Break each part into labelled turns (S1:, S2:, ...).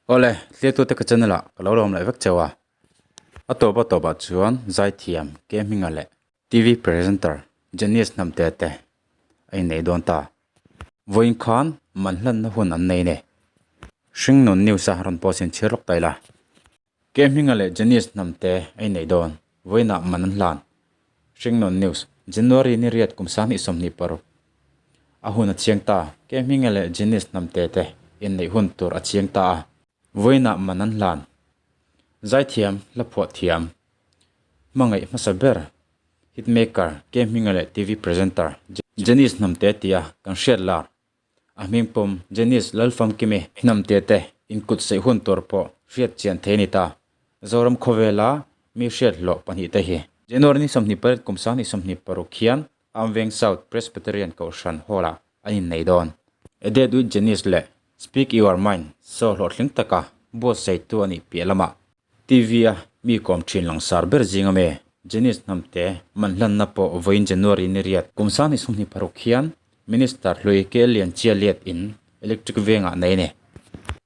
S1: Aw le, hliaituate ka channel ah ka lo lawm leh vek cheu a, a tawp a tawp ah chuan Zaithiam, Kehminga leh. TV presenter Janice Hnamtea te a innei dawn ta. Vawiin khan man hlanna hun an nei ne? Hringnun news a rawn post in chhir lawk ta ila. Ke hminga leh Janice hnam te ei nei dawn, vawiinah man an hlan. Hringnawn News, January ni riat kum sanghnih sawmhnih paruk a hun a chiang ta a, Ke hminga leh Janice hnam te te inneih hun tur a chiang ta a, vawiinah man an hlan. Zaithiam, Hlaphuah thiam, hmangaih hmasa ber, hitmaker, Ke hminga leh TV presenter, Janice hnam te tia kan hriat lar, A hming pawm Janice lal famkim i. Hnamte te in kut saih hun tur pawh hriat chian thei a ni ta. Zoram khawvela mi hriat hlawh pahnih te hi. January-ni sawmhnih parit kum sanghnih sawmhnih paruk hian Amveng South Presbyterian Kohhran Hall-a an innei dawn. A Date with Janice leh Speak Your Mind show hlawhtling taka buatsaihtu a nih piah lamah Tivia mi kawm thin langsar ber zing a me. Janice Hnamte, Man hlanna pawh vawiin January ni riat Kumsa ni sum hnih paruk hian Minister hlui kel lian chia liat in Electric vengah nei ne?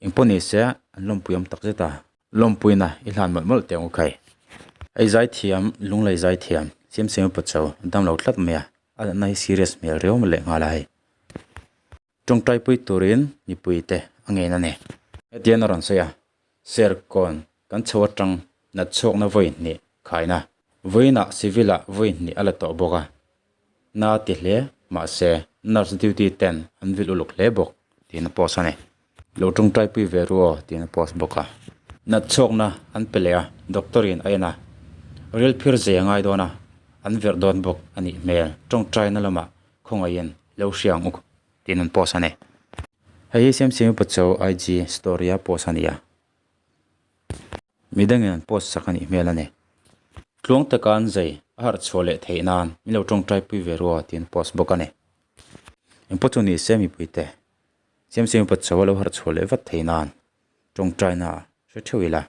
S1: Eng pawh ni se an lawmpuiawm tak zet a. Lawmpuina i hlan mawlh mawlh teh ang u khai. Ei zai thiam, lunglei zai thiam, siam siam i pawh cho, a dam lo tlat mai a, a lanna hi serious hmel riau leh nghal a hei. Tawngtai pui turin mipui te a ngen a ni. Hetian a rawn sawi a, Serkawn kan chho atang nat chhuakna vawi hnih khaina vawiinah civil-a vawi hnih a la tawh bawk a, na ti hle mahse nurse duty ten an vil uluk hle bawk tiin a post a ni. Lo tawngtai pui ve ru aw tiin a post bawk a. Nat chhuakna an pe leh a, doctor-in a en a, rilphir zia ngai dawn a, an verh dawn bawk a nih hmel. Tawngtaina lamah khawngaih in Lo hriang u tiin an post a ni. Hei hi Siamsimi Pacho IG story a post a ni a. Mi dangin an post sak a nih hmel a ni. Tluang te kan zei a harh chhuah leh theih nan min lo tawngtaipui ve rua tiin an post bawk a ni. Eng pawh chu ni se mipui te Siamsimi Pacho a lo harh chhuah leh vat theih nan tawngtaina a hre theuh ila.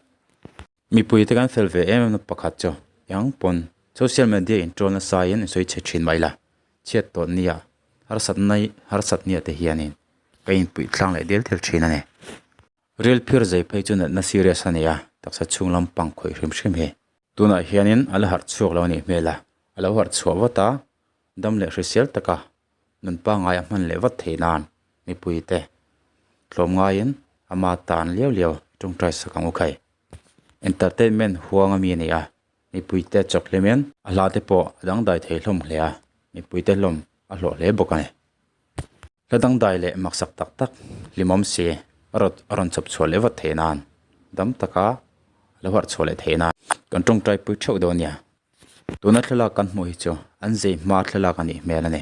S1: Mipuite kan fel ve em em na pakhat chu eng pawn social media in troll na saiin in sawi chhe thin mai la, chhiat tawn nia harsat nai harsat nia te hianin ka in puih thlang leh del tel thin a ni. Rel phir zai phei chu natna serious a nia, taksa chhung lam pang khawih hrim hrim hi. Tunah hianin a la harh chhuak lo a nih hmel a, a lo harh chhuah vat a, Dam leh hrisel taka nun pangai a hman leh vat thei nan mipui te tlawm ngaiin ama tan liau liau i tawngtai sak ang u khai. Entertainment huang a mi nia mipui te chawk hle men. A hla te pawh a dangdai thei hlawm hle a, mipui te hlawm a hlawh hle bawk a ni. Hla dangdai leh maksak tak tak hlimawm se a raw a rawn chawp chhuah leh vat theih nan dam taka la huarh chhuah leh theih nan kan tawngtai pui theuh dawn nia. Tuna thlalak kan hmuh hi chu an zeihma thlalak a nih hmel a ni.